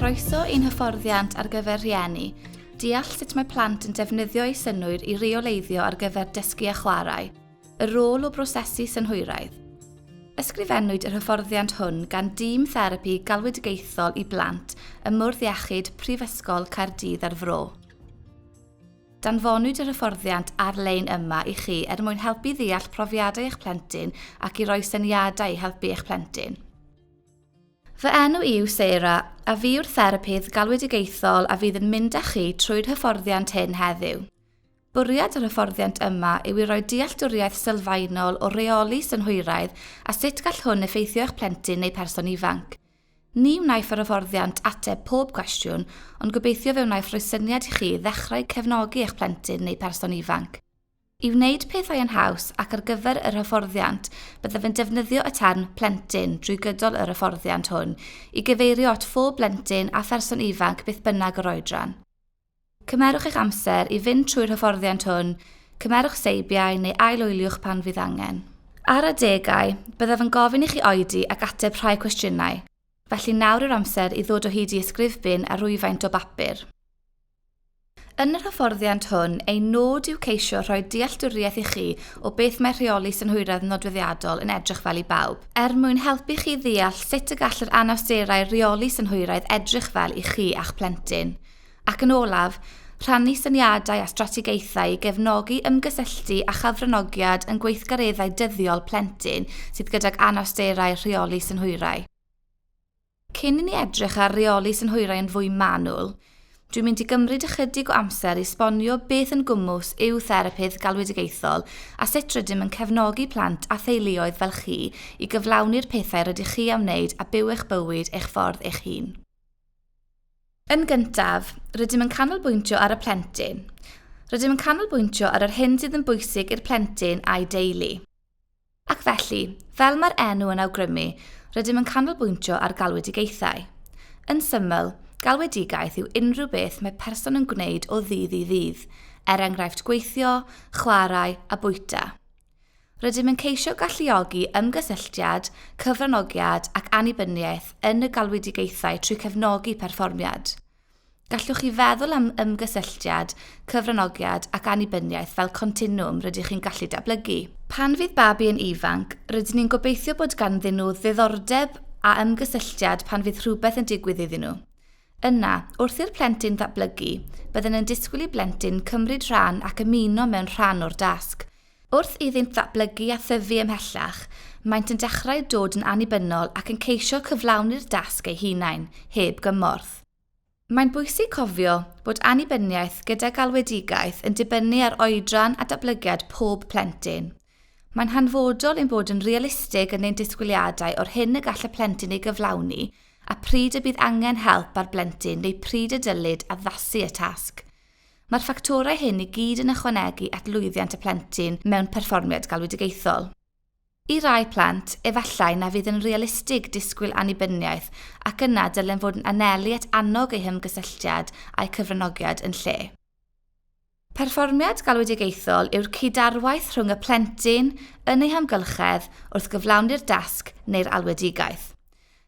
Croeso i'n hyfforddiant ar gyfer rhieni, deall sut mae plant yn defnyddio eu synnwyr i reoleiddio ar gyfer dysgu a chwarae. Y rôl o brosesu synhwyraidd. Ysgrifennwyd yr hyfforddiant hwn gan Dîm Therapi Galwedigaethol i Blant ym Mwrdd Iechyd Prifysgol Caerdydd a'r Fro. Danfonwyd yr hyfforddiant ar-lein yma i chi er mwyn helpu ddeall profiadau eich plentyn ac i roi syniadau i helpu eich plentyn. Fy enw i yw Sarah, a fi yw'r therapydd galwedigaethol a fydd yn mynd â chi trwy'r hyfforddiant hyn heddiw. Bwriad yr hyfforddiant yma yw i roi dealltwriaeth sylfaenol o reoli synhwyraidd a sut gall hwn effeithio eich plentyn neu person ifanc. Ni wnaiff yr hyfforddiant ateb pob cwestiwn, ond gobeithio fe wnaiff roi syniad i chi ddechrau cefnogi eich plentyn neu person ifanc. I wneud pethau yn haws ac ar gyfer yr hyfforddiant, byddaf yn defnyddio y term 'plentyn' drwy gydol yr hyfforddiant hwn i gyfeirio at phob blentyn a pherson ifanc beth bynnag yr oedran. Cymerwch eich amser i fynd trwy'r hyfforddiant hwn, cymerwch seibiau neu ail-wyliwch pan fydd angen. Ar adegau, byddaf yn gofyn i chi oedi ac ateb rhai cwestiynau, felly nawr yw'r amser i ddod o hyd i ysgrifbin a rhywfaint o bapur. Yn yr hyfforddiant hwn, ein nod yw ceisio rhoi dealltwriaeth i chi o beth mae rheoli synhwyraidd nodweddiadol yn edrych fel i bawb, er mwyn helpu chi ddeall sut y gall yr anawsterau rheoli synhwyraidd edrych fel i chi a'ch plentyn. Ac yn olaf, rhannu syniadau a strategaethau i gefnogi ymgysylltu a chyfranogiad yn gweithgareddau dyddiol plentyn sydd gydag anawsterau rheoli synhwyrau. Cyn i ni edrych ar reoli synhwyrau yn fwy manwl, dwi'n mynd i gymryd ychydig o amser i esbonio beth yn gwmws yw therapydd galwedigaethol a sut rydym yn cefnogi plant a theuluoedd fel chi i gyflawni'r pethau rydych chi am wneud a byw eich bywyd eich ffordd eich hun. Yn gyntaf, rydym yn canolbwyntio ar y plentyn. Rydym yn canolbwyntio ar yr hyn sydd yn bwysig i'r plentyn a'i deulu. Ac felly, fel mae'r enw yn awgrymu, rydym yn canolbwyntio ar galwedigaethau. Yn syml, galwedigaeth yw unrhyw beth mae person yn gwneud o ddydd i ddydd, er enghraifft gweithio, chwarae a bwyta. Rydym yn ceisio galluogi ymgysylltiad, cyfranogiad ac annibyniaeth yn y galwedigaethau trwy cefnogi perfformiad. Gallwch chi feddwl am ymgysylltiad, cyfranogiad ac annibyniaeth fel continwwm rydych chi'n gallu datblygu. Pan fydd babi yn ifanc, rydyn ni'n gobeithio bod ganddyn nhw ddiddordeb a ymgysylltiad pan fydd rhywbeth yn digwydd iddyn nhw. Yna, wrth i'r plentyn ddatblygu, byddwn yn disgwyl i blentyn cymryd rhan ac ymuno mewn rhan o'r dasg. Wrth iddynt ddatblygu a thyfu ymhellach, maent yn dechrau dod yn annibynnol ac yn ceisio cyflawni'r dasg eu hunain, heb gymorth. Mae'n bwysig cofio bod annibyniaeth gyda galwedigaeth yn dibynnu ar oedran a datblygiad pob plentyn. Mae'n hanfodol ein bod yn realistig yn ein disgwyliadau o'r hyn y gall y plentyn ei gyflawni a pryd y bydd angen help ar blentyn neu pryd y dylid addasu y tasg. Mae'r ffactorau hyn i gyd yn ychwanegu at lwyddiant y plentyn mewn perfformiad galwedigaethol. I rai plant, efallai na fydd yn realistig disgwyl annibyniaeth ac yna dylem fod yn anelu at annog eu hymgysylltiad a'u cyfranogiad yn lle. Perfformiad galwedigaethol yw'r cyd-arwaith rhwng y plentyn yn ei hamgylchedd wrth gyflawni'r dasg neu'r alwedigaeth.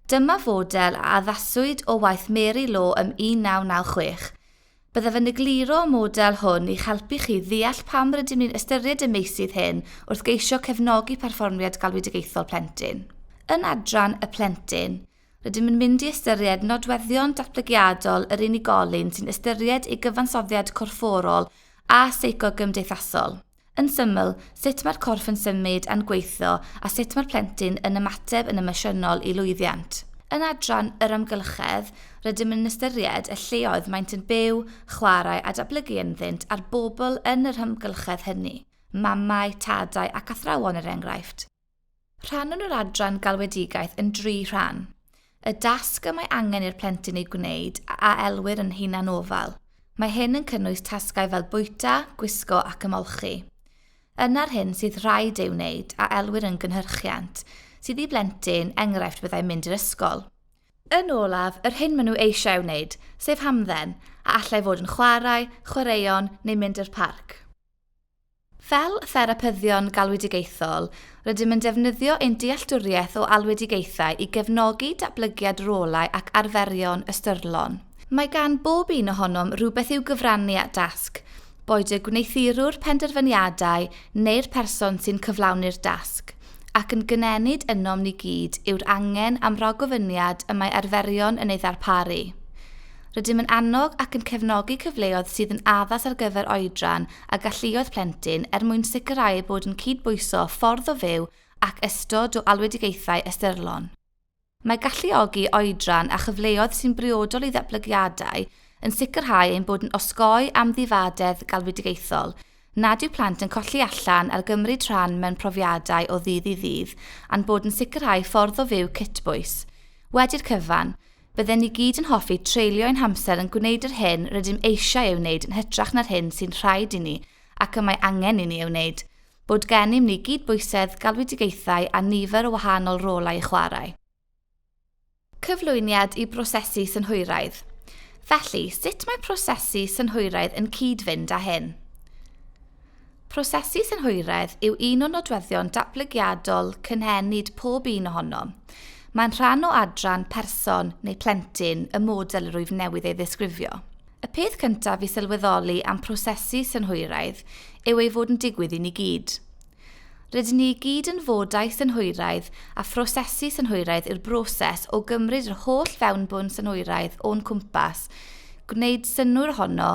Dyma fodel a addaswyd o waith Mary Law ym 1996. Byddaf yn egluro y model hwn i'ch helpu chi ddeall pam rydym ni'n ystyried y meysydd hyn wrth geisio cefnogi perfformiad galwedigaethol plentyn. Yn adran Y Plentyn, Rydym yn mynd i ystyried nodweddion datblygiadol yr unigolyn sy'n ystyried ei gyfansoddiad corfforol a seicogymdeithasol. Yn syml, sut mae'r corff yn symud a'n gweithio a sut mae'r plentyn yn ymateb yn emosiynol i lwyddiant. Yn adran yr amgylchedd, rydym yn ystyried y lleoedd maent yn byw, chwarae a datblygu ynddynt a'r bobl yn yr hymgylchedd hynny, mamau, tadau ac athrawon er enghraifft. Rhannwn yr adran galwedigaeth yn dri rhan. Y dasg y mae angen i'r plentyn ei gwneud a elwir yn hunanofal. Mae hyn yn cynnwys tasgau fel bwyta, gwisgo ac ymolchi. Yna'r hyn sydd rhaid ei wneud a elwir yn gynhyrchiant, sydd i blentyn, enghraifft byddai mynd i'r ysgol. Yn olaf, yr hyn maen nhw eisiau ei wneud, sef hamdden, a allai fod yn chwarae, chwaraeon neu mynd i'r parc. Fel therapyddion galwedigaethol, rydym yn defnyddio ein dealltwriaeth o alwedigaethau i gefnogi datblygiad rolau ac arferion ystyrlon. Mae gan bob un ohonom rywbeth i'w gyfrannu at dasg, boed y gwneuthurwr penderfyniadau neu'r person sy'n cyflawni'r dasg, ac yn gynenid ynom ni gyd yw'r angen am ragofyniad y mae arferion yn ei ddarparu. Rydym yn annog ac yn cefnogi cyfleoedd sydd yn addas ar gyfer oedran a galluoedd plentyn er mwyn sicrhau eu bod yn cydbwyso ffordd o fyw ac ystod o alwedigaethau ystyrlon. Mae galluogi oedran a chyfleoedd sy'n briodol i ddatblygiadau yn sicrhau ein bod yn osgoi amddifadedd galwedigaethol, nad yw plant yn colli allan ar gymryd rhan mewn profiadau o ddydd i ddydd a'n bod yn sicrhau ffordd o fyw cytbwys. Wedi'r cyfan, Bydden ni gyd yn hoffi treulio ein hamser yn gwneud yr hyn rydym eisiau ei wneud yn hytrach na'r hyn sy'n rhaid i ni ac y mae angen i ni ei wneud, bod gennym ni gydbwysedd, galwedigaethau a nifer o wahanol rolau i chwarae. Cyflwyniad i brosesu synhwyraidd Felly, sut mae prosesu synhwyraidd yn cyd-fynd â hyn? Prosesu synhwyraidd yw un o nodweddion datblygiadol cynhenid pob un ohonom. Mae'n rhan o adran person neu plentyn y model yr wyf newydd ei ddisgrifio. Y peth cyntaf i sylweddoli am prosesu synhwyraidd yw ei fod yn digwydd i ni gyd. Rydyn ni i gyd yn fodau synhwyraidd a phrosesu synhwyraidd yw'r broses o gymryd yr holl fewnbwn synhwyraidd o'n cwmpas, gwneud synnwyr ohono,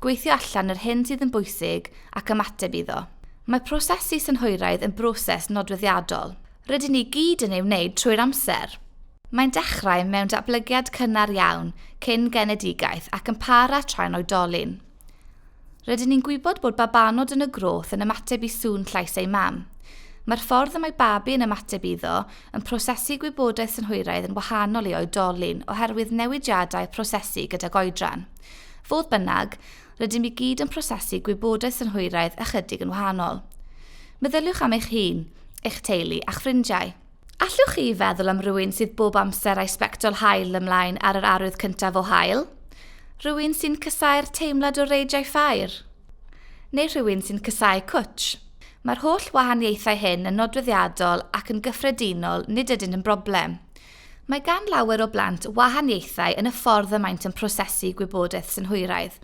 Gweithio allan yr hyn sydd yn bwysig ac ymateb iddo. Mae prosesu synhwyraidd yn broses nodweddiadol. Rydyn ni gyd yn ei wneud trwy'r amser. Mae'n dechrau mewn datblygiad cynnar iawn, cyn genedigaeth, ac yn para tra'n oedolyn. Rydyn ni'n gwybod bod babanod yn y groth yn ymateb i sŵn llais eu mam. Mae'r ffordd y mae babi yn ymateb iddo yn prosesu gwybodaeth synhwyraidd yn wahanol i oedolyn oherwydd newidiadau prosesu gydag oedran. Fodd bynnag, rydym i gyd yn prosesu gwybodaeth yn hwyraidd ychydig yn wahanol. Meddyliwch am eich hun, eich teulu a'ch ffrindiau. Allwch chi feddwl am rywun sydd bob amser â'i sbectol haul ymlaen ar yr arwydd cyntaf o haul? Rhywun sy'n casáu'r teimlad o reidiau ffair? Neu rhywun sy'n casáu cwtsh? Mae'r holl wahaniaethau hyn yn nodweddiadol ac yn gyffredinol nid ydynt yn broblem. Mae gan lawer o blant wahaniaethau yn y ffordd y maent yn prosesu gwybodaeth synhwyraidd,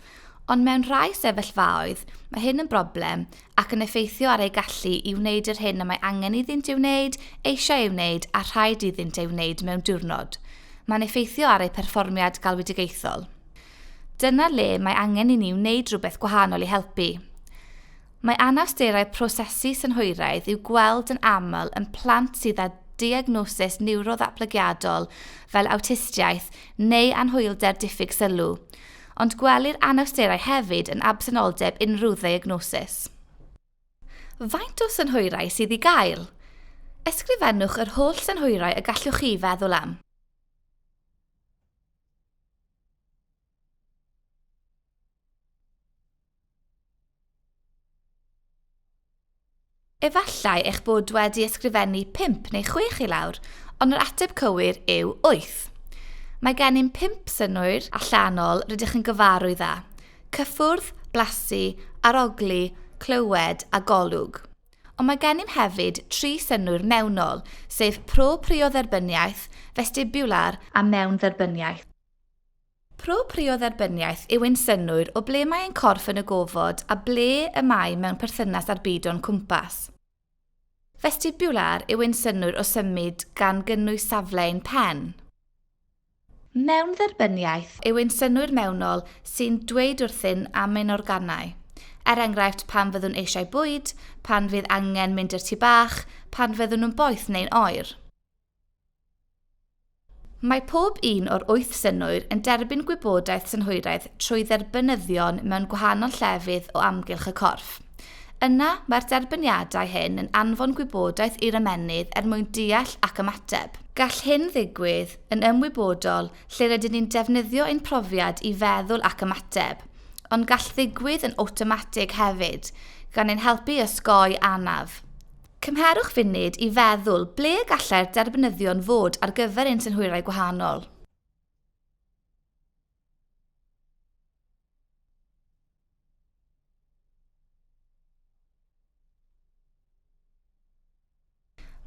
ond mewn rhai sefyllfaoedd mae hyn yn broblem ac yn effeithio ar eu gallu i wneud yr hyn y mae angen iddynt ei wneud, eisiau ei wneud a rhaid iddynt ei wneud mewn diwrnod. Mae'n effeithio ar eu perfformiad galwedigaethol. Dyna le mae angen i ni wneud rhywbeth gwahanol i helpu. Mae anawsterau prosesu synhwyraidd i'w gweld yn aml yn plant sydd â diagnosis niwroddatblygiadol fel awtistiaeth neu anhwylder diffyg sylw, ond gwelir anawsterau hefyd yn absenoldeb unrhyw ddiagnosis. Faint o synhwyrau sydd i gael? Ysgrifennwch yr holl synhwyrau y gallwch chi feddwl am. Efallai eich bod wedi ysgrifennu pump neu chwech i lawr, ond yr ateb cywir yw wyth. Mae gennym pump synnwyr allanol rydych yn gyfarwydd â, cyffwrdd, blasu, arogli, clywed a golwg. Ond mae gennym hefyd tri synnwyr mewnol, sef pro-priodderbyniaeth, festibular a mewndderbyniaeth. Pro prio dderbyniaeth yw ein synnwyr o ble mae ein corff yn y gofod a ble y mae mewn perthynas â'r byd o'n cwmpas. Festibular yw ein synnwyr o symud gan gynnwys safle ein pen. Mewndderbyniaeth yw ein synnwyr mewnol sy'n dweud wrthyn am ein organau. Er enghraifft, pan fyddwn eisiau bwyd, pan fydd angen mynd i'r tŷ bach, pan fyddwn yn boeth neu'n oer. Mae pob un o'r wyth synhwyr yn derbyn gwybodaeth synhwyraidd trwy dderbynyddion mewn gwahanol llefydd o amgylch y corff. Yna, mae'r derbyniadau hyn yn anfon gwybodaeth i'r ymennydd er mwyn deall ac ymateb. Gall hyn ddigwydd yn ymwybodol lle rydyn ni'n defnyddio ein profiad i feddwl ac ymateb, ond gall ddigwydd yn awtomatig hefyd, gan ein helpu i osgoi anaf. Cymherwch funud i feddwl ble y gallai'r derbynyddion fod ar gyfer ein synhwyrau gwahanol.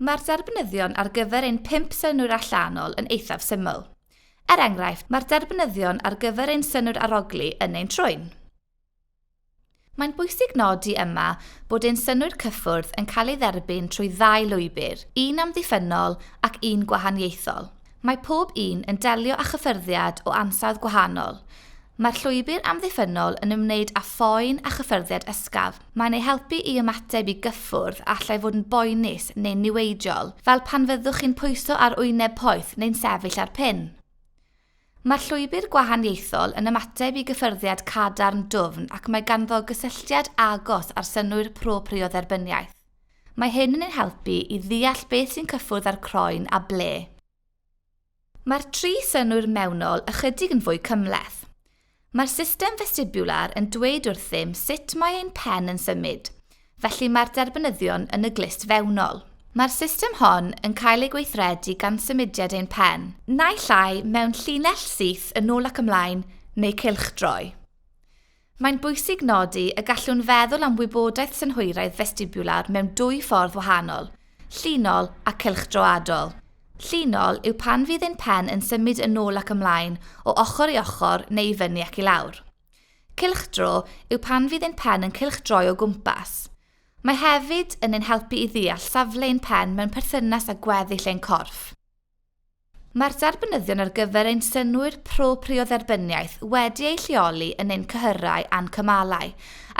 Mae'r derbynyddion ar gyfer ein pump synnwyr allanol yn eithaf syml. Er enghraifft, mae'r derbynyddion ar gyfer ein synnwyr arogli yn ein trwyn. Mae'n bwysig nodi yma bod ein synnwyr cyffwrdd yn cael ei dderbyn trwy ddau lwybr, un amddiffynnol ac un gwahaniaethol. Mae pob un yn delio â chyffyrddiad o ansawdd gwahanol. Mae'r llwybr amddiffynnol yn ymwneud â phoen a chyffyrddiad ysgafn. Mae'n eu helpu i ymateb i gyffwrdd a allai fod yn boenus neu'n niweidiol, fel pan fyddwch chi'n pwyso ar wyneb poeth neu'n sefyll ar pin. Mae'r llwybr gwahaniaethol yn ymateb i gyffyrddiad cadarn dwfn ac mae ganddo gysylltiad agos â'r synnwyr pro-priodderbyniaeth. Mae hyn yn ein helpu i ddeall beth sy'n cyffwrdd â'r croen a ble. Mae'r tri synnwyr mewnol ychydig yn fwy cymhleth. Mae'r system festibular yn dweud wrthym sut mae ein pen yn symud, felly mae'r derbynyddion yn y glust fewnol. Mae'r system hon yn cael ei gweithredu gan symudiad ein pen, naill ai mewn llinell syth yn ôl ac ymlaen neu cylchdroi. Mae'n bwysig nodi y gallwn feddwl am wybodaeth synhwyraidd festibular mewn dwy ffordd wahanol, Llinol a cylchdroadol. Llinol yw pan fydd ein pen yn symud yn ôl ac ymlaen, o ochr i ochr neu i fyny ac i lawr. Cylchdro yw pan fydd ein pen yn cylchdroi o gwmpas. Mae hefyd yn ein helpu i ddeall safle ein pen mewn perthynas â gweddill ein corff. Mae'r derbynyddion ar gyfer ein synnwyr pro-prio dderbyniaeth wedi eu lleoli yn ein cyhyrau a'n cymalau,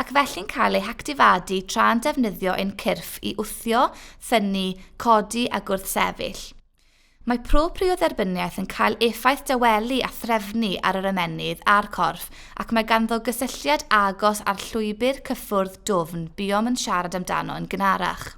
ac felly'n cael eu hactifadu tra'n defnyddio ein cyrff i wthio, thynnu, codi a gwrthsefyll. Mae pro-prio dderbyniaeth yn cael effaith dawelu a threfnu ar yr ymennydd a'r corff ac mae ganddo gysylltiad agos â'r llwybr cyffwrdd dwfn buom yn siarad amdano yn gynharach.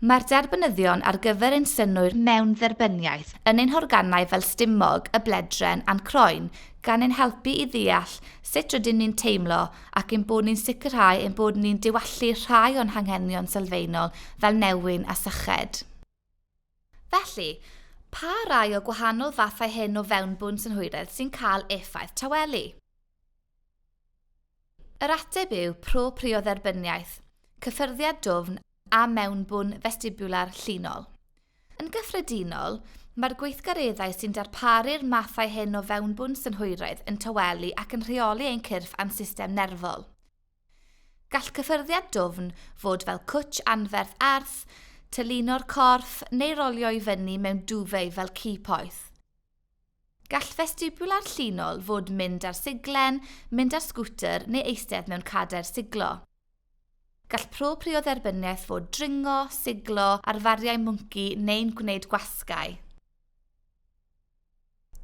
Mae'r derbynyddion ar gyfer ein synnwyr mewn-dderbyniaeth yn ein horganau fel stumog, y bledren a'n croen, gan ein helpu i ddeall sut rydyn ni'n teimlo ac ein bod ni'n sicrhau ein bod ni'n diwallu rhai o'n hanghenion sylfaenol fel newyn a syched. Felly, pa rai o gwahanol fathau hyn o fewnbwn synhwyredd sy'n cael effaith tawelu? Yr ateb yw proprïo dderbyniaeth, cyffyrddiad dwfn a mewnbwn festibiwlar llinol. Yn gyffredinol, mae'r gweithgareddau sy'n darparu'r mathau hyn o fewnbwn synhwyraidd yn tawelu ac yn rheoli ein cyrff a'n system nerfol. Gall cyffyrddiad dwfn fod fel cwtsh anferth arth, tylluno'r corff, neu rolio i fyny mewn duvet fel ci poeth. Gall festibular llinol fod mynd ar siglen, mynd ar sgwter neu eistedd mewn cadair siglo. Gall proprio'r dderbyniaeth fod dringo, siglo, arfariau mwnci neu'n gwneud gwasgau.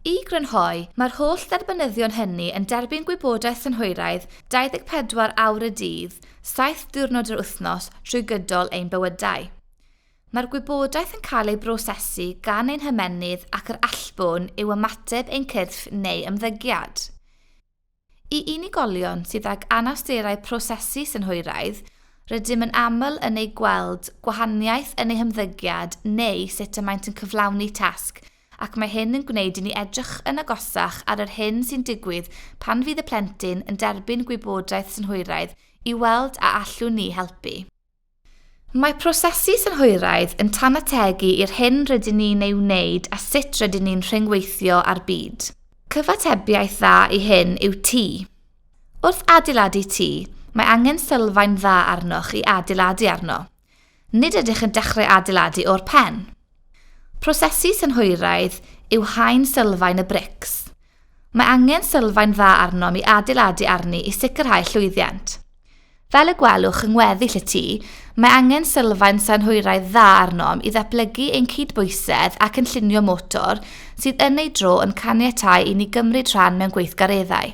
I grynhoi, mae'r holl dderbynyddion hynny yn derbyn gwybodaeth synhwyraidd 24 awr y dydd, saith diwrnod yr wythnos trwy gydol ein bywydau. Mae'r gwybodaeth yn cael ei brosesu gan ein hymennydd ac yr allbwn yw ymateb ein cyrff neu ymddygiad. I unigolion sydd ag anawsterau prosesu synhwyraidd, rydym yn aml yn ei gweld gwahaniaeth yn eu hymddygiad neu sut y maent yn cyflawni tasg, ac mae hyn yn gwneud i ni edrych yn agosach ar yr hyn sy'n digwydd pan fydd y plentyn yn derbyn gwybodaeth synhwyraidd i weld a allwn ni helpu. Mae prosesu synhwyraidd yn tanategu i'r hyn rydyn ni'n ei wneud a sut rydyn ni'n rhyngweithio â'r byd. Cyfatebiaeth dda i hyn yw tŷ. Wrth adeiladu tŷ, mae angen sylfaen dda arnoch i adeiladu arno. Nid ydych yn dechrau adeiladu o'r pen. Prosesu synhwyraidd yw haen sylfaen y brics. Mae angen sylfaen dda arnom i adeiladu arni i sicrhau llwyddiant. Fel y gwelwch yng ngweddill y tŷ, mae angen sylfaen synhwyraidd dda arnom i ddatblygu ein cydbwysedd a chynllunio motor sydd yn ei dro yn caniatáu i ni gymryd rhan mewn gweithgareddau.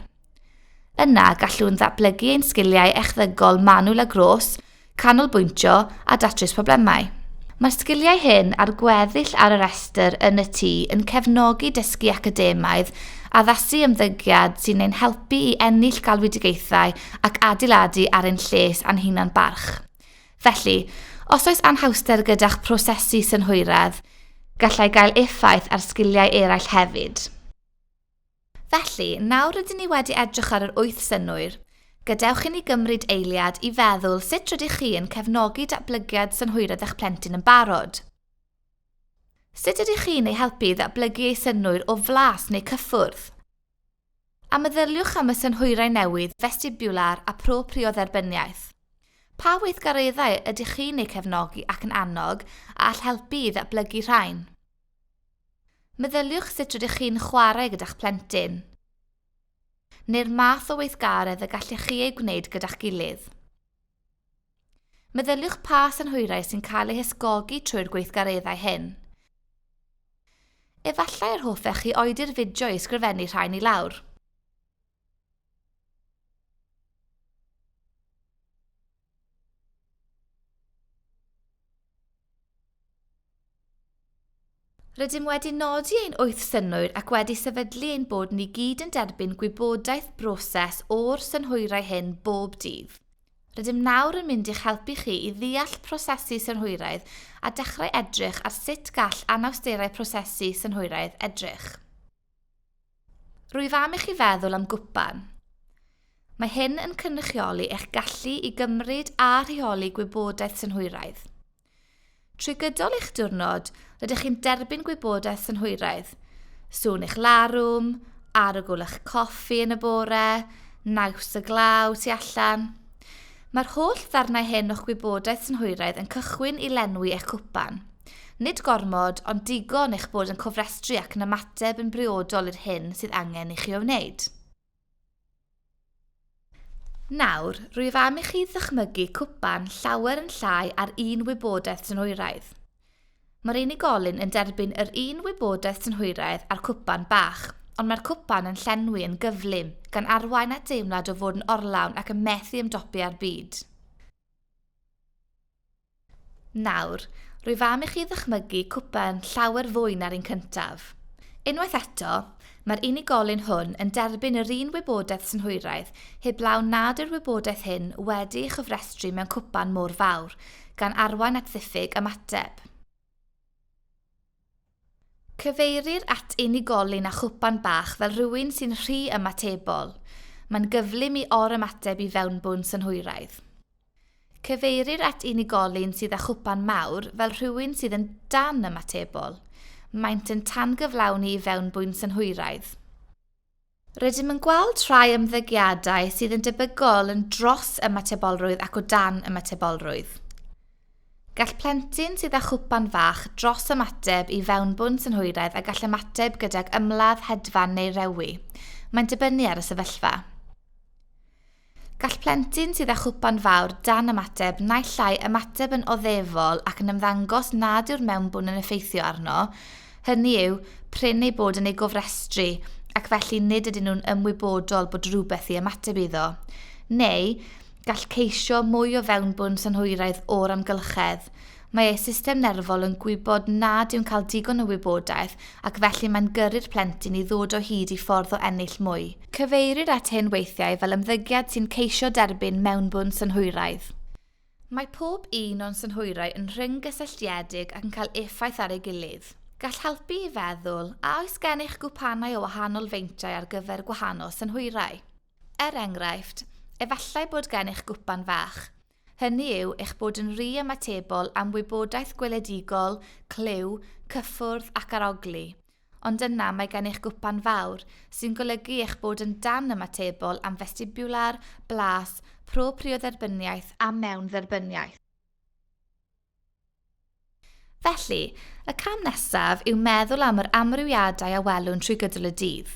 Yna, gallwn ddatblygu ein sgiliau echddygol manwl a gros, canolbwyntio a datrys problemau. Mae'r sgiliau hyn a'r gweddill ar y rhestr yn y tŷ yn cefnogi dysgu academaidd, addasu ymddygiad sy'n ein helpu i ennill galwedigaethau ac adeiladu ar ein lles a'n hunan barch. Felly, os oes anhawster gyda'ch prosesu synhwyraidd, gallai gael effaith ar sgiliau eraill hefyd. Felly, nawr rydyn ni wedi edrych ar yr wyth synnwyr, gadewch i ni gymryd eiliad i feddwl sut rydych chi yn cefnogi datblygiad synhwyraidd eich plentyn yn barod. Sut ydych chi'n ei helpu i ddatblygu ei synnwyr o flas neu cyffwrdd? A meddyliwch am y synhwyrau newydd, festibular a propriodderbyniaeth. Pa weithgareddau ydych chi'n eu cefnogi ac yn annog a all helpu i ddatblygu rhain? Meddyliwch sut rydych chi'n chwarae gyda'ch plentyn, neu'r math o weithgaredd y gallech chi ei gwneud gyda'ch gilydd. Meddyliwch pa synhwyrau sy'n cael eu hysgogi trwy'r gweithgareddau hyn. Efallai yr hoffech chi oedi'r fideo i ysgrifennu rhain i lawr. Rydym wedi nodi ein wyth synnwyr ac wedi sefydlu ein bod ni gyd yn derbyn gwybodaeth broses o'r synhwyrau hyn bob dydd. Rydym nawr yn mynd i'ch helpu chi i ddeall prosesu synhwyraidd a dechrau edrych ar sut gall anawsterau prosesu synhwyraidd edrych. Rwyf am i chi feddwl am gwpan. Mae hyn yn cynrychioli eich gallu i gymryd a rheoli gwybodaeth synhwyraidd. Trwy gydol eich diwrnod, rydych chi'n derbyn gwybodaeth synhwyraidd. Sŵn eich larwm, arogl eich coffi yn y bore, naws y glaw tu allan. Mae'r holl ddarnau hyn o'ch gwybodaeth synhwyraidd yn cychwyn i lenwi eich cwpan. Nid gormod, ond digon eich bod yn cofrestru ac yn ymateb yn briodol i'r hyn sydd angen i chi ei wneud. Nawr, rwyf am i chi ddychmygu cwpan llawer yn llai ar un wybodaeth synhwyraidd. Mae'r unigolyn yn derbyn yr un wybodaeth synhwyraidd â'r cwpan bach, ond mae'r cwpan yn llenwi yn gyflym, gan arwain at deimlad o fod yn orlawn ac yn methu ymdopi â'r byd. Nawr, rwyf am i chi ddychmygu cwpan llawer fwy na'r un cyntaf. Unwaith eto, Mae'r unigolyn hwn yn derbyn yr un wybodaeth synhwyraidd heblaw nad yw'r wybodaeth hyn wedi'i chofrestru mewn cwpan mor fawr, gan arwain at ddiffyg ymateb. Cyfeirir at unigolyn â chwpan bach fel rhywun sy'n rhy ymatebol. Mae'n gyflym i or-ymateb i fewnbwn synhwyraidd. Cyfeirir at unigolyn sydd â chwpan mawr fel rhywun sydd yn dan-ymatebol. Maent yn tangyflawni i fewnbwyn synhwyraidd. Rydym yn gweld rhai ymddygiadau sydd yn debygol yn dros ymatebolrwydd ac o dan ymatebolrwydd. Gall plentyn sydd â chwpan fach dros ymateb i fewnbwn synhwyraidd a gall ymateb gydag ymladd hedfan neu rewi. Mae'n dibynnu ar y sefyllfa. Gall plentyn sydd â chwpan fawr dan ymateb naill ai ymateb yn oddefol ac yn ymddangos nad yw'r mewnbwn yn effeithio arno, hynny yw, prin eu bod yn ei gofrestru ac felly nid ydyn nhw'n ymwybodol bod rhywbeth i ymateb iddo, neu gall ceisio mwy o fewnbwn synhwyraidd o'r amgylchedd. Mae eu system nerfol yn gwybod nad yw'n cael digon o wybodaeth ac felly mae'n gyrru'r plentyn i ddod o hyd i ffordd o ennill mwy. Cyfeirir at hyn weithiau fel ymddygiad sy'n ceisio derbyn mewnbwn synhwyraidd. Mae pob un o'n synhwyrau yn rhyng-gysylltiedig ac yn cael effaith ar ei gilydd. Gall helpu i feddwl, a oes gennych gwpanau o wahanol feintiau ar gyfer gwahanol synhwyrau? Er enghraifft, efallai bod gennych gwpan fach. Hynny yw, eich bod yn rhy ymatebol am wybodaeth gweledigol, clyw, cyffwrdd ac arogli. Ond yna mae gen eich gwpan fawr, sy'n golygu eich bod yn dan-ymatebol am festibiwlar, blas, propriodderbyniaeth a mewndderbyniaeth. Felly, y cam nesaf yw meddwl am yr amrywiadau a welwn trwy gydol y dydd.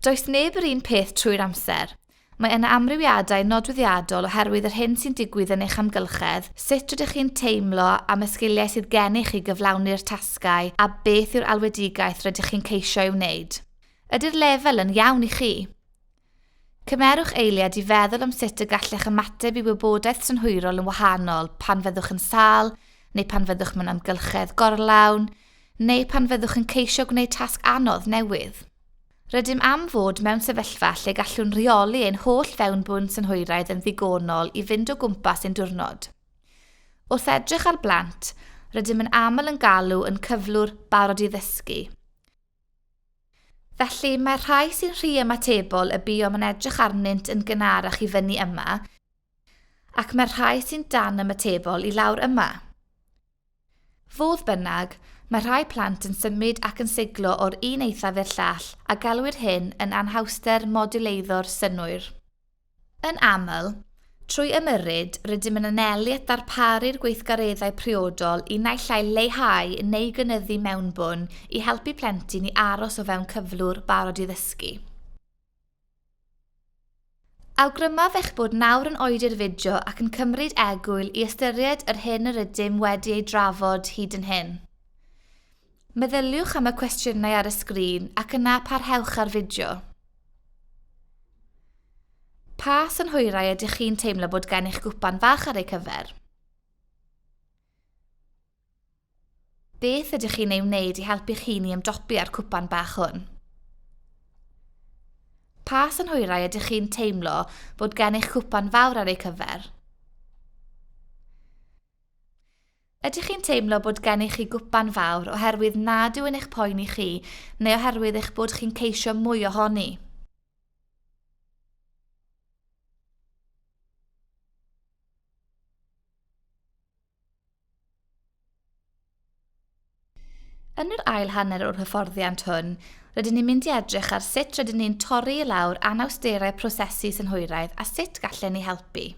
Does neb yr un peth trwy'r amser. Mae yna amrywiadau nodweddiadol oherwydd yr hyn sy'n digwydd yn eich amgylchedd, sut rydych chi'n teimlo am y sgiliau sydd gennych i gyflawni'r tasgau a beth yw'r alwedigaeth rydych chi'n ceisio ei wneud. Ydy'r lefel yn iawn i chi? Cymerwch eiliad i feddwl am sut y gallech ymateb i wybodaeth synhwyrol yn wahanol pan fyddwch yn sâl, neu pan fyddwch mewn amgylchedd gorlawn, neu pan fyddwch yn ceisio gwneud tasg anodd newydd. Rydym am fod mewn sefyllfa lle gallwn reoli ein holl fewnbwn synhwyraidd yn ddigonol i fynd o gwmpas ein diwrnod. Wrth edrych ar blant, rydym yn aml yn galw yn cyflwr barod i ddysgu. Felly, mae'r rhai sy'n rhy ymatebol y buom yn edrych arnynt yn gynharach i fyny yma, ac mae'r rhai sy'n dan ymatebol i lawr yma. Fodd bynnag, mae rhai plant yn symud ac yn siglo o'r un eithaf i'r llall a galwir hyn yn anhawster moduleuddor synnwyr. Yn aml, trwy ymyrryd, rydym yn anelu at ddarparu'r gweithgareddau priodol i naill ai leihau neu gynyddu mewnbwn i helpu plentyn i aros o fewn cyflwr barod i ddysgu. Awgrymaf eich bod nawr yn oedi ar fideo ac yn cymryd egwyl i ystyried yr hyn yr ydym wedi ei drafod hyd yn hyn. Meddyliwch am y cwestiynau ar y sgrin ac yna parhewch â'r fideo. Pa synhwyrau ydych chi'n teimlo bod gen eich gwpan fach ar eu cyfer? Beth ydych chi'n ei wneud i helpu'ch hun i ymdopi â'r cwpan bach hwn? Pa synhwyrau ydych chi'n teimlo bod gen eich cwpan fawr ar eu cyfer? Ydych chi'n teimlo bod gennych chi gwpan fawr oherwydd nad yw'n eich poeni chi neu oherwydd eich bod chi'n ceisio mwy ohoni? Yn yr ail hanner o'r hyfforddiant hwn, rydyn ni'n mynd i edrych ar sut rydyn ni'n torri i lawr anawsterau prosesu synhwyraidd a sut gallen ni helpu.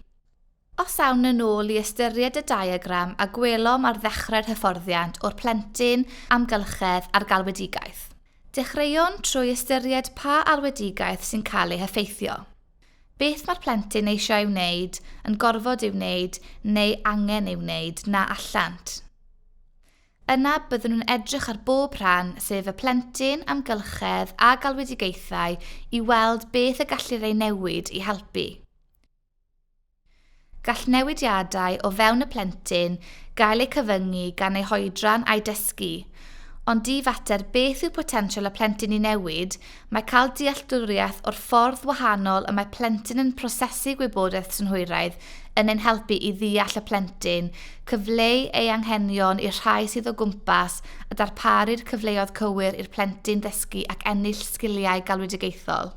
Os awn yn ôl i ystyried y diagram a gwelom ar ddechrau'r hyfforddiant o'r plentyn, amgylchedd a'r galwedigaeth. Dechreuwn trwy ystyried pa alwedigaeth sy'n cael ei heffeithio. Beth mae'r plentyn eisiau ei wneud, yn gorfod ei wneud neu angen ei wneud na allant. Yna byddwn nhw'n edrych ar bob rhan, sef y plentyn, amgylchedd a galwedigaethau, i weld beth y gallir ei newid i helpu. Gall newidiadau o fewn y plentyn gael eu cyfyngu gan ei hoedran a'i dysgu, ond i fater beth yw potensial y plentyn i newid, mae cael dealltwriaeth o'r ffordd wahanol y mae plentyn yn prosesu gwybodaeth synhwyraidd yn ein helpu i ddeall y plentyn, cyfleu ei anghenion i'r rhai sydd o gwmpas a darparu'r cyfleoedd cywir i'r plentyn ddysgu ac ennill sgiliau galwedigaethol.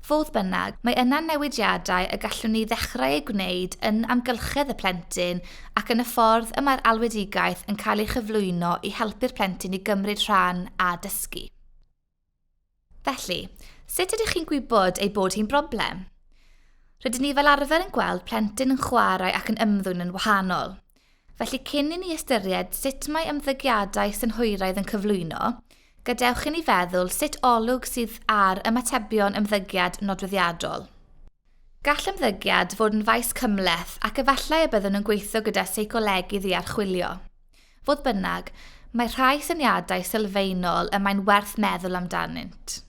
Fodd bynnag, mae yna newidiadau y gallwn ni ddechrau eu gwneud yn amgylchedd y plentyn ac yn y ffordd y mae'r alwedigaeth yn cael ei chyflwyno i helpu'r plentyn i gymryd rhan a dysgu. Felly, sut ydych chi'n gwybod ei bod hi'n broblem? Rydyn ni fel arfer yn gweld plentyn yn chwarae ac yn ymddwyn yn wahanol. Felly cyn i ni ystyried sut mae ymddygiadau synhwyraidd yn cyflwyno, gadewch i ni feddwl sut olwg sydd ar ymatebion ymddygiad nodweddiadol. Gall ymddygiad fod yn faes cymhleth ac efallai y byddwn yn gweithio gyda seicolegydd i archwilio. Fodd bynnag, mae rhai syniadau sylfaenol y mae'n werth meddwl amdanynt.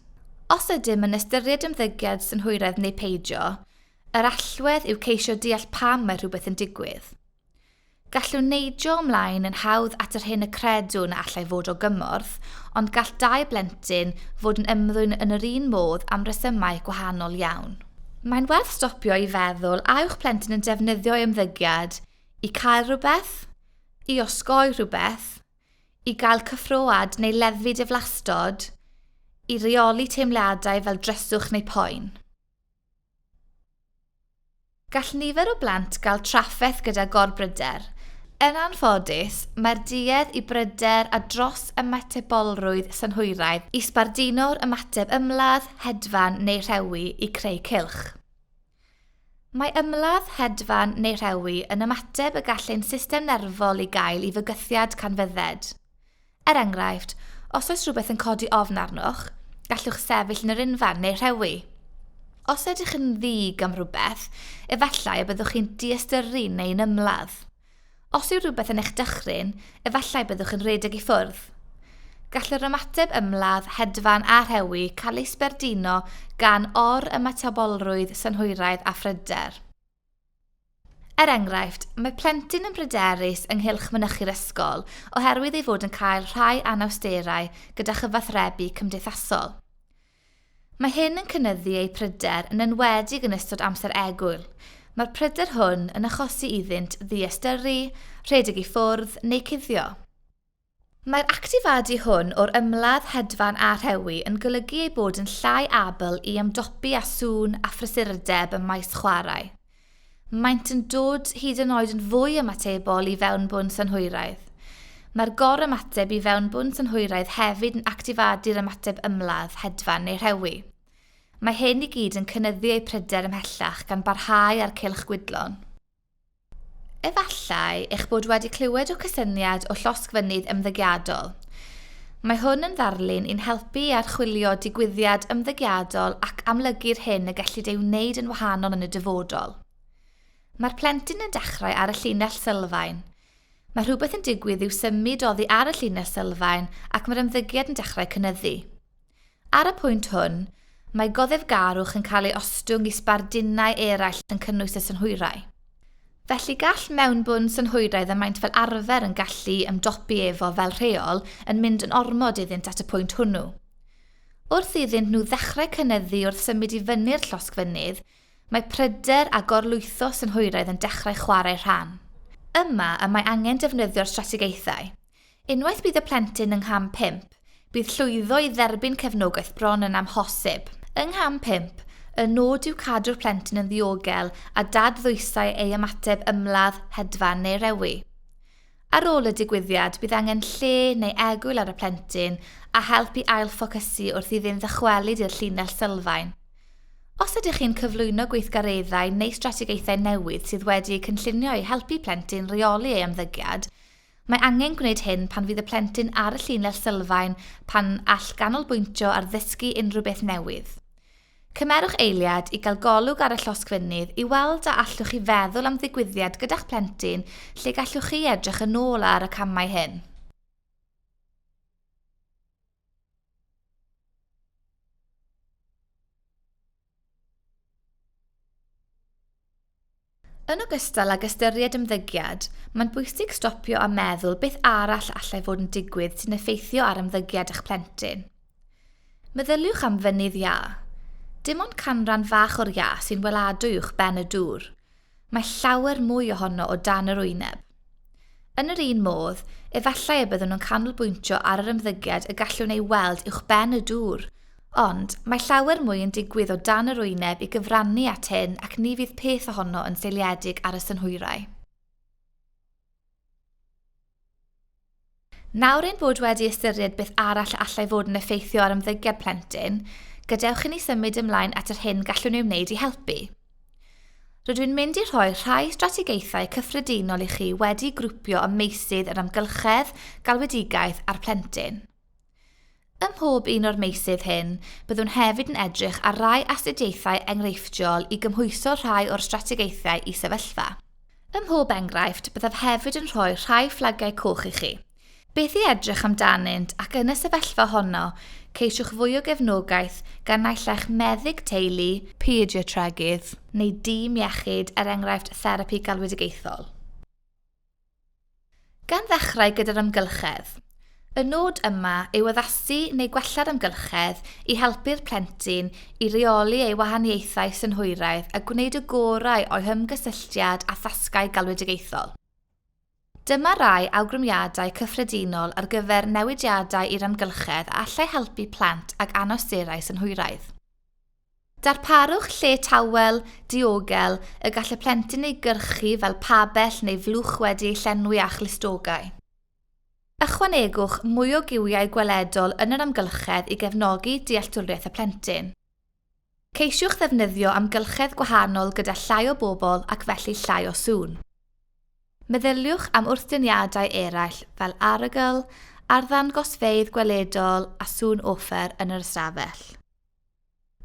Os ydym yn ystyried ymddygiad synhwyraidd neu peidio, Yr allwedd yw ceisio deall pam mae rhywbeth yn digwydd. Gallwn neidio ymlaen yn hawdd at yr hyn y credwn y allai fod o gymorth, ond gall dau blentyn fod yn ymddwyn yn yr un modd am resymau gwahanol iawn. Mae'n werth stopio i feddwl a yw'ch plentyn yn defnyddio'i ymddygiad i cael rhywbeth, i osgoi rhywbeth, i gael cyffroad neu leddfu diflastod, i reoli teimladau fel dryswch neu poen. Gall nifer o blant gael trafferth gyda gorbryder. Yn anffodus, mae'r duedd i bryder a dros ymatebolrwydd synhwyraidd i sbarduno'r ymateb ymladd, hedfan neu rhewi i creu cylch. Mae ymladd, hedfan neu rhewi yn ymateb y gall ein system nerfol i gael i fygythiad canfydded. Er enghraifft, os oes rhywbeth yn codi ofn arnoch, gallwch sefyll yn yr unfan neu rhewi. Os ydych yn ddig am rhywbeth, efallai y byddwch chi'n diystyru neu'n ymladd. Os yw rhywbeth yn eich dychryn, efallai byddwch yn rhedeg i ffwrdd. Gall yr ymateb ymladd, hedfan a rhewi cael ei sbardino gan or-ymatabolrwydd synhwyraidd a phryder. Er enghraifft, mae plentyn yn bryderus ynghylch mynychu'r ysgol oherwydd ei fod yn cael rhai anawsterau gyda chyfathrebu cymdeithasol. Mae hyn yn cynyddu eu pryder yn enwedig yn ystod amser egwyl, mae'r pryder hwn yn achosi iddynt ddiystyru, rhedeg i ffwrdd neu cuddio. Mae'r actifadu hwn o'r ymladd hedfan a rhewi yn golygu eu bod yn llai abl i ymdopi â sŵn a phrysurdeb ym maes chwarae. Maent yn dod hyd yn oed yn fwy ymatebol i fewnbwn synhwyraidd. Mae'r gorymateb i fewnbwn synhwyraidd hefyd yn actifadu'r ymateb ymladd hedfan neu rhewi. Mae hyn i gyd yn cynyddu eu pryder ymhellach gan barhau â'r cylch gwydlon. Efallai eich bod wedi clywed o cysyniad o llosgfynydd ymddygiadol. Mae hwn yn ddarlun i'n helpu i archwilio digwyddiad ymddygiadol ac amlygu'r hyn y gellid ei wneud yn wahanol yn y dyfodol. Mae'r plentyn yn dechrau ar y llinell sylfaen. Mae rhywbeth yn digwydd i'w symud oddi ar y llinell sylfaen ac mae'r ymddygiad yn dechrau cynyddu. Ar y pwynt hwn, mae goddefgarwch yn cael ei ostwng i sbardunau eraill yn cynnwys y synhwyrau. Felly gall mewnbwn synhwyraidd y maent fel arfer yn gallu ymdopi efo fel rheol yn mynd yn ormod iddynt at y pwynt hwnnw. Wrth iddynt nhw ddechrau cynyddu wrth symud i fyny'r llosg fynydd, mae pryder a gorlwytho synhwyraidd yn dechrau chwarae rhan. Yma y mae angen defnyddio'r strategaethau. Unwaith bydd y plentyn yng ngham pump, bydd llwyddo i dderbyn cefnogaeth bron yn amhosib. Yng ngham pump, y nod yw cadw'r plentyn yn ddiogel a dad ddwysau ei ymateb ymladd, hedfan neu rewi. Ar ôl y digwyddiad, bydd angen lle neu egwyl ar y plentyn a help i ail-ffocysu wrth iddynt ddychwelyd i'r llinell sylfaen. Os ydych chi'n cyflwyno gweithgareddau neu strategaethau newydd sydd wedi eu cynllunio i helpu plentyn reoli ei ymddygiad, Mae angen gwneud hyn pan fydd y plentyn ar y llinell sylfaen pan all ganolbwyntio ar ddysgu unrhyw beth newydd. Cymerwch eiliad i gael golwg ar y llosg fynydd i weld a allwch chi feddwl am ddigwyddiad gyda'ch plentyn lle gallwch chi edrych yn ôl ar y camau hyn. Yn ogystal ag ystyried ymddygiad, mae'n bwysig stopio a meddwl beth arall allai fod yn digwydd sy'n effeithio ar ymddygiad eich plentyn. Meddyliwch am fynydd iâ. Dim ond canran fach o'r iâ sy'n weladwy uwchben y dŵr. mae llawer mwy ohono o dan yr wyneb. Yn yr un modd, efallai y byddwn yn canolbwyntio ar yr ymddygiad y gallwn ei weld uwchben y dŵr, ond mae llawer mwy yn digwydd o dan yr wyneb i gyfrannu at hyn ac ni fydd peth ohono yn seiliedig ar y synhwyrau. Nawr ein bod wedi ystyried beth arall y allai fod yn effeithio ar ymddygiad plentyn, gadewch i ni symud ymlaen at yr hyn gallwn ei wneud i helpu. Rydw i'n mynd i rhoi rhai strategaethau cyffredinol i chi wedi grwpio ym meysydd yr amgylchedd, galwedigaeth a'r plentyn. Ym mhob un o'r meysydd hyn, byddwn hefyd yn edrych ar rai astudiaethau enghreifftiol i gymhwyso rhai o'r strategaethau i sefyllfa. Ym mhob enghraifft, byddaf hefyd yn rhoi rhai fflagiau coch i chi. Beth i edrych amdanynt ac yn y sefyllfa honno, ceisiwch fwy o gefnogaeth gan naill ai'ch meddyg teulu, pediatregydd neu dîm iechyd er enghraifft therapi galwedigaethol. Gan ddechrau gyda'r amgylchedd. Y nod yma yw addasu neu gwella'r amgylchedd i helpu'r plentyn i reoli ei wahaniaethau synhwyraidd a gwneud y gorau o'i hymgysylltiad â thasgau galwedigaethol. Dyma rai awgrymiadau cyffredinol ar gyfer newidiadau i'r amgylchedd a allai helpu plant ag anawsterau synhwyraidd. Darparwch lle tawel, diogel, y gall y plentyn ei gyrchu fel pabell neu flwch wedi ei llenwi â chlustogau. Ychwanegwch mwy o giwiau gweledol yn yr amgylchedd i gefnogi dealltwriaeth y plentyn. Ceisiwch ddefnyddio amgylchedd gwahanol gyda llai o bobl ac felly llai o sŵn. Meddyliwch am wrthdyniadau eraill fel arogl, arddangosfeydd gweledol a sŵn offer yn yr ystafell.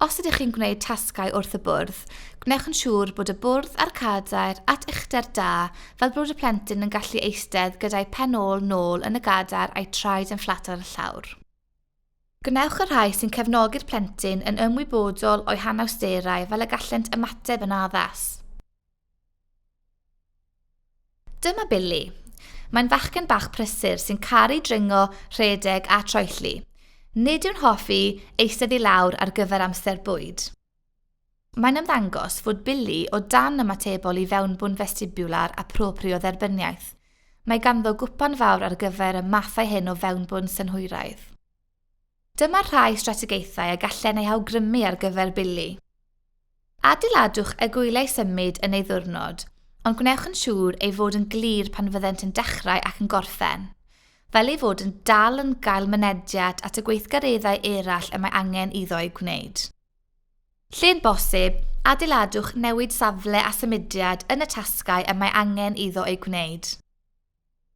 Os ydych chi'n gwneud tasgau wrth y bwrdd, gwnewch yn siŵr bod y bwrdd a'r cadair at uchder da fel bod y plentyn yn gallu eistedd gyda'i phen ôl nôl yn y gadair a'i traed yn fflat ar y llawr. Gwnewch y rhai sy'n cefnogi'r plentyn yn ymwybodol o'u hanawsterau fel y gallent ymateb yn addas. Dyma Billy. Mae'n fachgen bach prysur sy'n caru dringo, rhedeg a troelli. Nid yw'n hoffi eistedd i lawr ar gyfer amser bwyd. Mae'n ymddangos fod Billy o dan ymatebol i fewnbwn festibular a proprio dderbyniaeth. Mae ganddo gwpan fawr ar gyfer y mathau hyn o fewnbwn synhwyraidd. Dyma rhai strategaethau a gallen ei awgrymu ar gyfer Billy. Adeiladwch y gwyliau symud yn ei ddiwrnod, ond gwnewch yn siŵr ei fod yn glir pan fyddent yn dechrau ac yn gorffen, fel ei fod yn dal yn gael mynediad at y gweithgareddau eraill y mae angen iddo eu gwneud. Lle'n bosib, adeiladwch newid safle a symudiad yn y tasgau y mae angen iddo eu gwneud.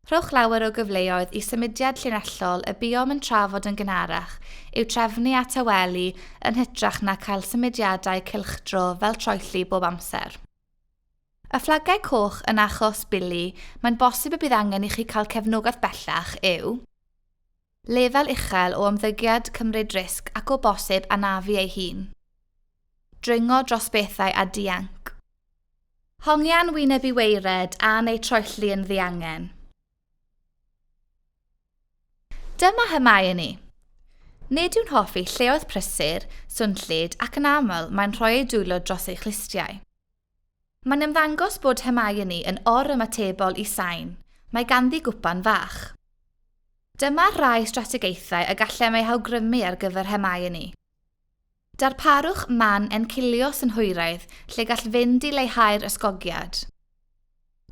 Rhowch lawer o gyfleoedd i symudiad llinellol y buom yn trafod yn gynharach i'w trefnu a tawelu yn hytrach na chael symudiadau cylchdro fel troelli bob amser. Y fflagau coch yn achos Billy, mae'n bosib y bydd angen i chi cael cefnogaeth bellach, yw. Lefel uchel o ymddygiad, cymryd risg ac o bosib anafu ei hun. Dringo dros bethau a dianc. Hongian wyneb i waered a neu troelli yn ddiangen. Dyma Hermione ni! Nid yw'n hoffi lleoedd prysur, swnllyd ac yn aml mae'n rhoi ei dwylo dros ei chlustiau. Mae'n ymddangos bod Hermione yn or-ymatebol i sain, mae ganddi gwpan fach. Dyma rai strategaethau y gallem eu hawgrymu ar gyfer Hermione. Darparwch man encilios yn hwyraidd lle gall fynd i leihau'r ysgogiad.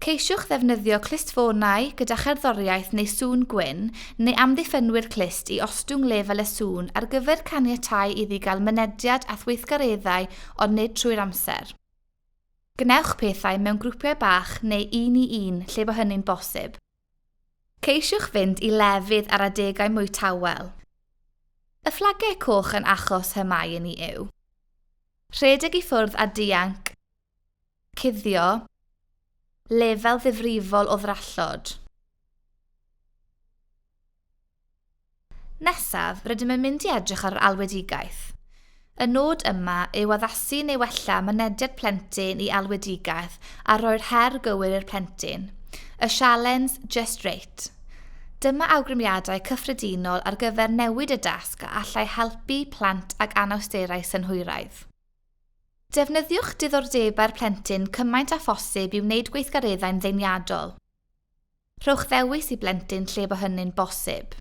Ceisiwch ddefnyddio clustfonau gyda cherddoriaeth neu sŵn gwyn, neu amddiffynwyr clust i ostwng lefel y sŵn ar gyfer caniatáu iddi gael mynediad at weithgareddau ond nid trwy'r amser. Gwnewch pethau mewn grwpiau bach neu un i un lle bo hynny'n bosib. Ceisiwch fynd i lefydd ar adegau mwy tawel. Y fflagiau coch yn achos hŷn mae un i yw. Rhedeg i ffwrdd a dianc. Cuddio, lefel ddifrifol o ddrallod. Nesaf, rydym yn mynd i edrych ar yr alwedigaeth. Y nod yma yw addasu neu wella mynediad plentyn i alwedigaeth a rhoi'r her gywir i'r plentyn. Y sialens Just Rate. Dyma awgrymiadau cyffredinol ar gyfer newid y dasg a allai helpu plant ag anawsterau synhwyraidd. Defnyddiwch diddordebau'r plentyn cymaint â phosib i wneud gweithgareddau'n ddeniadol. Rhowch ddewis i blentyn lle bo hynny'n bosib.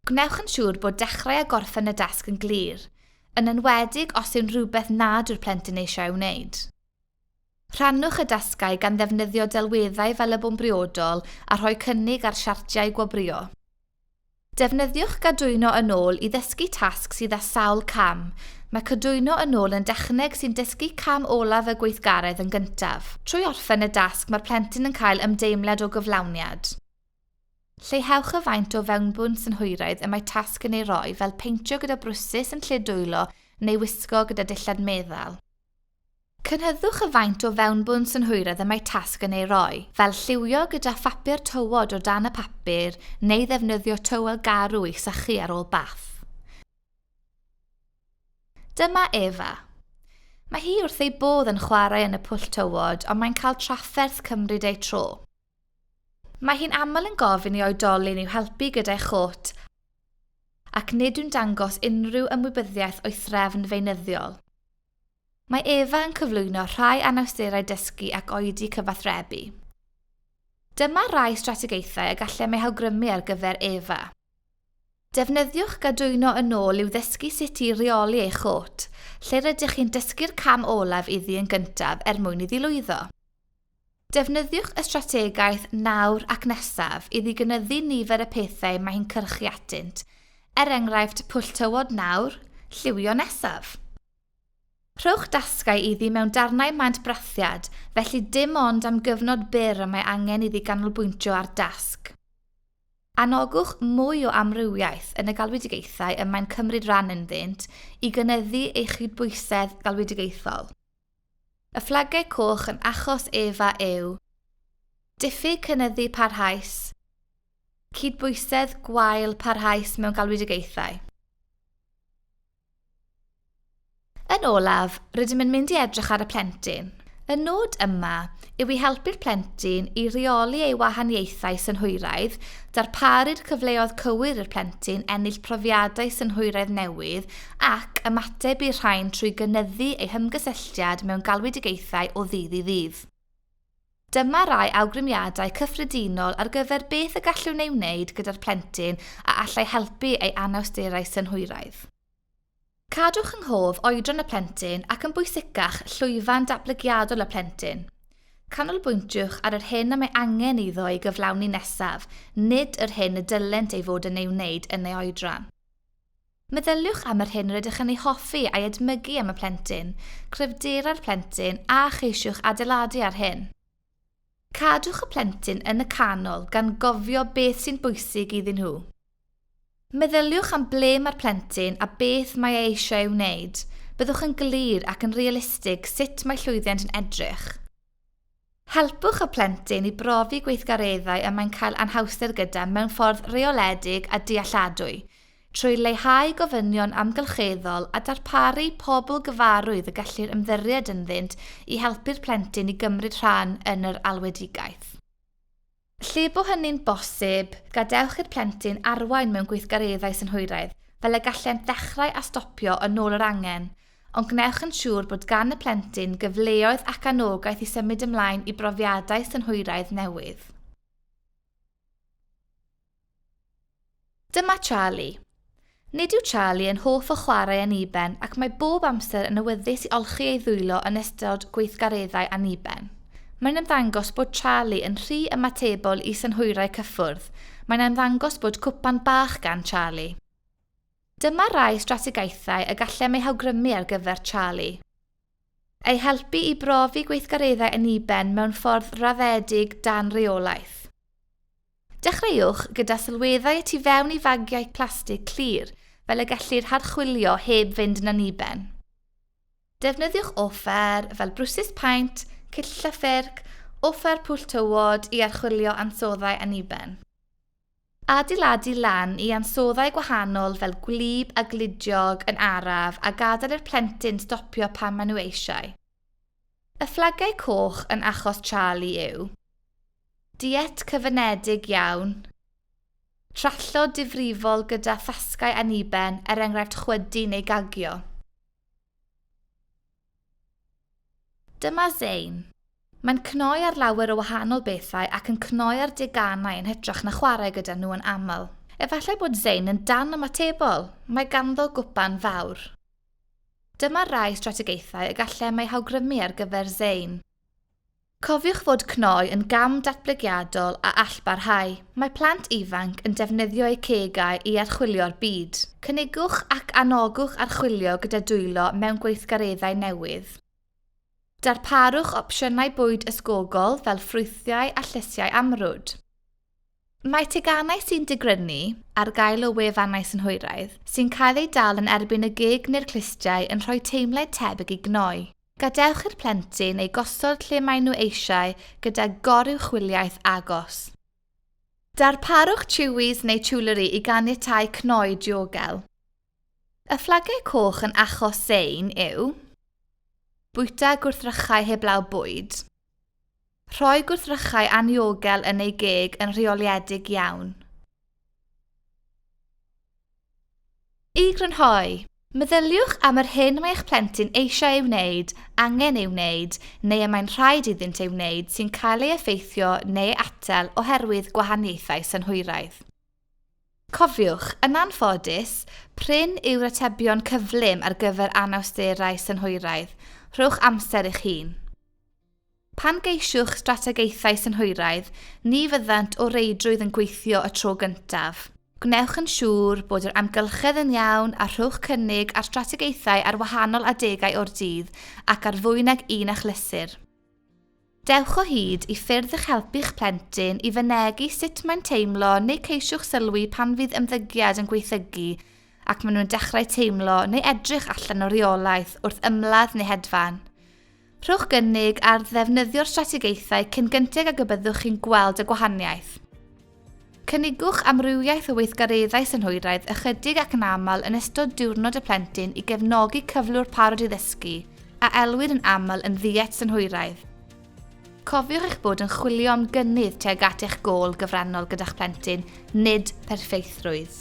Gwnewch yn siŵr bod dechrau a gorffen y dasg yn glir, yn enwedig os yw'n rhywbeth nad yw'r plentyn eisiau ei wneud. Rhannwch y dasgau gan ddefnyddio delweddau fel y bwn briodol a rhoi cynnig ar siartiau gwobrwyo. Defnyddiwch gadwyno yn ôl i ddysgu tasg sydd â sawl cam, mae cadwyno yn ôl yn dechneg sy'n dysgu cam olaf y gweithgaredd yn gyntaf. Trwy orffen y dasg mae'r plentyn yn cael ymdeimlad o gyflawniad. Lleihewch y faint o fewnbwn synhwyraidd y mae tasg yn ei roi fel peintio gyda brwsys yn lle dwylo neu wisgo gyda dillad meddal. Cynhydwch y faint o fewnbwn synhwyredd y mae tasg yn ei roi, fel lliwio gyda phapur tywod o dan y papur neu ddefnyddio tywel garw i'ch sychu ar ôl bath. Dyma Eva. Mae hi wrth ei bodd yn chwarae yn y pwll tywod ond mae'n cael trafferth cymryd ei tro. Mae hi'n aml yn gofyn i oedolyn i'w helpu gyda'i chôt ac nid yw'n dangos unrhyw ymwybyddiaeth o'i threfn feunyddiol. Mae Eva yn cyflwyno rhai anawsterau dysgu ac oedi cyfathrebu. Dyma rai strategaethau y gallem eu hawgrymu ar gyfer Eva. Defnyddiwch gadwyno yn ôl i'w ddysgu sut i reoli ei chôt, lle rydych chi'n dysgu'r cam olaf iddi yn gyntaf er mwyn iddi lwyddo. Defnyddiwch y strategaeth 'nawr ac nesaf' iddi gynyddu nifer y pethau mae hi'n cyrchu atynt, er enghraifft 'pwll tywod nawr, lliwio nesaf'. Rhowch dasgau iddi mewn darnau maent brathiad, felly dim ond am gyfnod byr y mae angen iddi ganolbwyntio ar dasg. Anogwch mwy o amrywiaeth yn y galwedigaethau y mae'n cymryd rhan ynddynt i gynyddu ei chydbwysedd galwedigaethol. Y fflagau coch yn achos ef a yw. Diffyg cynyddu parhaus. Cydbwysedd gwael parhaus mewn galwedigaethau. Yn olaf, rydym yn mynd i edrych ar y plentyn. Y nod yma yw i helpu'r plentyn i reoli ei wahaniaethau synhwyraidd, darparu'r cyfleoedd cywir i'r plentyn ennill profiadau synhwyraidd newydd ac ymateb i'r rhain trwy gynyddu ei hymgysylltiad mewn galwedigaethau o ddydd i ddydd. Dyma rai awgrymiadau cyffredinol ar gyfer beth y gallwn ei wneud gyda'r plentyn a allai helpu ei anawsterau synhwyraidd. Cadwch yng nghof oedran y plentyn ac yn bwysicach, llwyfan datblygiadol y plentyn. Canolbwyntiwch ar yr hyn y mae angen iddo ei gyflawni nesaf, nid yr hyn y dylent ei fod yn ei wneud yn ei oedran. Meddyliwch am yr hyn rydych yn ei hoffi a'i edmygu am y plentyn, cryfderau'r plentyn a cheisiwch adeiladu ar hyn. Cadwch y plentyn yn y canol gan gofio beth sy'n bwysig iddyn nhw. Meddyliwch am ble mae'r plentyn a beth mae e eisiau ei wneud. Byddwch yn glir ac yn realistig sut mae llwyddiant yn edrych. Helpwch y plentyn i brofi gweithgareddau y mae'n cael anhawster gyda mewn ffordd reoledig a dealladwy. Trwy leihau gofynion amgylcheddol a darparu pobl gyfarwydd y gellir ymddiried ynddynt i helpu'r plentyn i gymryd rhan yn yr alwedigaeth. Lle bo hynny'n bosib, gadewch i'r plentyn arwain mewn gweithgareddau synhwyraidd, fel y gallent ddechrau a stopio yn ôl yr angen, ond gwnewch yn siŵr bod gan y plentyn gyfleoedd ac anogaeth i symud ymlaen i brofiadau synhwyraidd newydd. Dyma Charlie. Nid yw Charlie yn hoff o chwarae anniben ac mae bob amser yn awyddus i olchi ei ddwylo yn ystod gweithgareddau anniben. Mae'n ymddangos bod Charlie yn rhy ymatebol i synhwyrau cyffwrdd, mae'n ymddangos bod cwpan bach gan Charlie. Dyma rai strategaethau y gallem eu hawgrymu ar gyfer Charlie. Eu helpu i brofi gweithgareddau yn Iben mewn ffordd raddedig dan reolaeth. Dechreuwch gyda sylweddau y tu fewn i fagiau plastig clir fel y gellir harchwilio heb fynd yn anniben. Defnyddiwch offer fel brwsys paent, cyllell a ffyrc, offer pwll tywod i archwilio ansoddau anniben. Adeiladu lan i ansoddau gwahanol fel gwlyb a gludiog yn araf a gadael i'r plentyn stopio pan maen nhw eisiau. Y fflagau coch yn achos Charlie yw. Diet cyfyngedig iawn. Trallod difrifol gyda thasgau anniben er enghraifft chwydu neu gagio. Dyma Zein. Mae'n cnoi ar lawer o wahanol bethau ac yn cnoi ar deganau yn hytrach na chwarae gyda nhw yn aml. Efallai bod Zein yn dan ymatebol, mae ganddo gwpan fawr. Dyma rai strategaethau y gallem eu hawgrymu ar gyfer Zein. Cofiwch fod cnoi yn gam datblygiadol a all barhau. Mae plant ifanc yn defnyddio eu cegau i archwilio'r byd. Cynigwch ac anogwch archwilio gyda dwylo mewn gweithgareddau newydd. Darparwch opsiynau bwyd ysgogol fel ffrwythiau a llysiau amrwd. Mae teganau sy'n digrynu ar gael o wefannau synhwyraidd sy'n cael eu dal yn erbyn y gig neu'r clustiau yn rhoi teimled tebyg i gnoi. Gadewch i'r plentyn eu gosod lle maen nhw eisiau gyda goruwchwyliaeth agos. Darparwch Chewies neu Chewlery i ganiatáu cnoi diogel. Y fflagiau coch yn achos sein yw, Bwyta gwrthrychau heblaw bwyd. Rhoi gwrthrychau anniogel yn ei geg yn rheoliedig iawn. I grynhoi, meddyliwch am yr hyn mae eich plentyn eisiau ei wneud, angen ei wneud, neu y mae'n rhaid iddynt ei wneud sy'n cael ei effeithio neu ei atal oherwydd gwahaniaethau synhwyraidd. Cofiwch, yn anffodus, prin yw'r atebion cyflym ar gyfer anawsterau synhwyraidd, rhowch amser i'ch hun. Pan geisiwch strategaethau synhwyraidd, ni fyddant o reidrwydd yn gweithio y tro gyntaf. Gwnewch yn siŵr bod yr amgylchedd yn iawn a rhowch cynnig ar strategaethau ar wahanol adegau o'r dydd ac ar fwy nag un achlysur. Dewch o hyd i ffyrdd i'ch helpu'ch plentyn i fynegi sut mae'n teimlo neu ceisiwch sylwi pan fydd ymddygiad yn gwaethygu ac maen nhw'n dechrau teimlo neu edrych allan o reolaeth wrth ymladd neu hedfan. Rhowch gynnig ar ddefnyddio'r strategaethau cyn gynted ag y byddwch chi'n gweld y gwahaniaeth. Cynigwch amrywiaeth o weithgareddau synhwyraidd ychydig ac yn aml yn ystod Diwrnod y Plentyn i gefnogi cyflwr parod i ddysgu, a elwir yn aml yn ddiet synhwyraidd. Cofiwch eich bod yn chwilio am gynnydd tuag at eich gôl gyfrannol gyda'ch plentyn, nid perffeithrwydd.